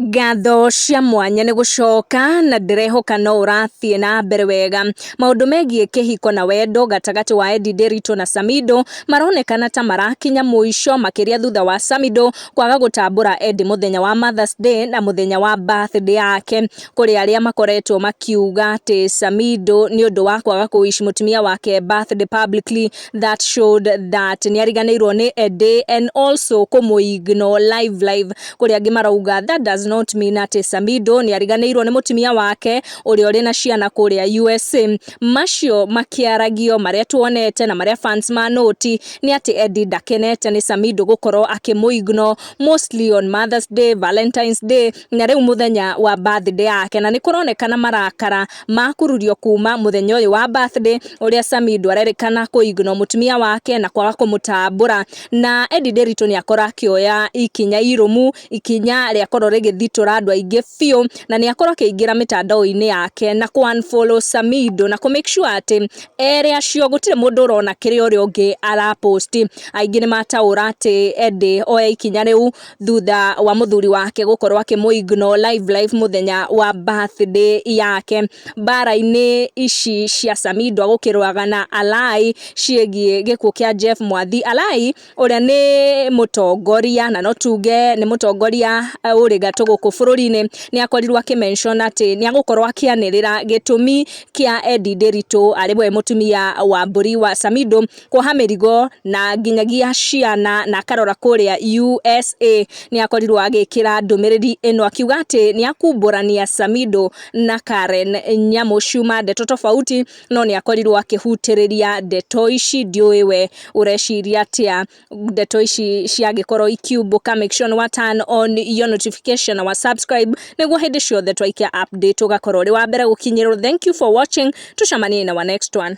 Ngatho cia mwanya nĩ gũcoka na ndĩrehoka no ũrathiĩ na mbere wega. Maũndũ megiĩ kĩhiko na wendo gatagatĩ wa Eddie Nderitu na Samido maronekana ta marakinya mũico makĩria thutha wa Samido kwaga gũtambũra Eddie mũthenya wa Mother's Day na mũthenya wa birthday yake. Kũrĩ arĩa makoretwo makiuga atĩ Samido nĩ ũndũ wa kwaga kũ wish mũtumia wake birthday publicly that showed that nĩ ariganĩirwo nĩ a day and also kũmũ ignore live live kũrĩa angĩ marauga that does not mean atĩ Samido nĩ ariganĩirwo nĩ mũtumia wake ũrĩa ũrĩ na ciana kũrĩa USA macio makĩaragio marĩa tuonete na marĩa fans ma noti nĩ atĩ Eddie ndakenete nĩ Samido gũkorwo akĩmũ ignore mostly on Mother's Day, Valentine's Day na rĩu mũthenya wa birthday yake na nĩkũronekana marakara makururio kuma mũthenya ũyũ wa birthday ũrĩa Sami ndwarerĩkana kũ ignore mũtumia wake na kwaga kũmũtambũra na Eddie Nderitu nĩakorwo akĩoya ikinya irũmu ikinya rĩakorwo rĩgĩthitũra andũ aingĩ biũ na nĩakorwo akĩingĩra mĩtandao-inĩ yake na kũ unfollow Samido na kũ make sure atĩ erĩ acio gũtirĩ mũndũ ũrona kĩrĩa ũrĩa ũngĩ araposti aingĩ nĩmataũra atĩ Eddie oya ikinya rĩu thutha wa mũthuri wake gũkorwo akĩmũ ignore live live mũthenya wa birthday yake mbara-inĩ ici cia Samido gũkĩrũaga na Alai ciĩgiĩ gĩkuũ kĩa Jeff Mwathi. Alai ũrĩa nĩ mũtongoria na no tuge nĩ mũtongoria ũrĩ gatũ gũkũ bũrũri-inĩ nĩ akorirwo akĩ mention atĩ nĩ agũkorwo akĩanĩrĩra gĩtũmi kĩa Eddie Nderitu arĩ we mũtumia wa mbũri wa Samido kuoha mĩrigo na nginyagia ciana na akarora kũrĩa USA nĩ akorirwo agĩkĩra ndũmĩrĩri ĩno akiuga atĩ nĩ akumbũrania Samido na Karen nyamũ ciuma ndeto tofauti no nĩ akorirwo akĩhutĩrĩria ndeto ici ndiũĩ we ũreciria atĩa ndeto ici ciagĩkorwo ikiumbũka make sure nĩ wa turn on your notification na wa subscribe nĩguo hĩndĩ ciothe twaikia update ũgakorwo ũrĩ wa mbere gũkinyĩrwo thank you for watching tucemanie na wa next one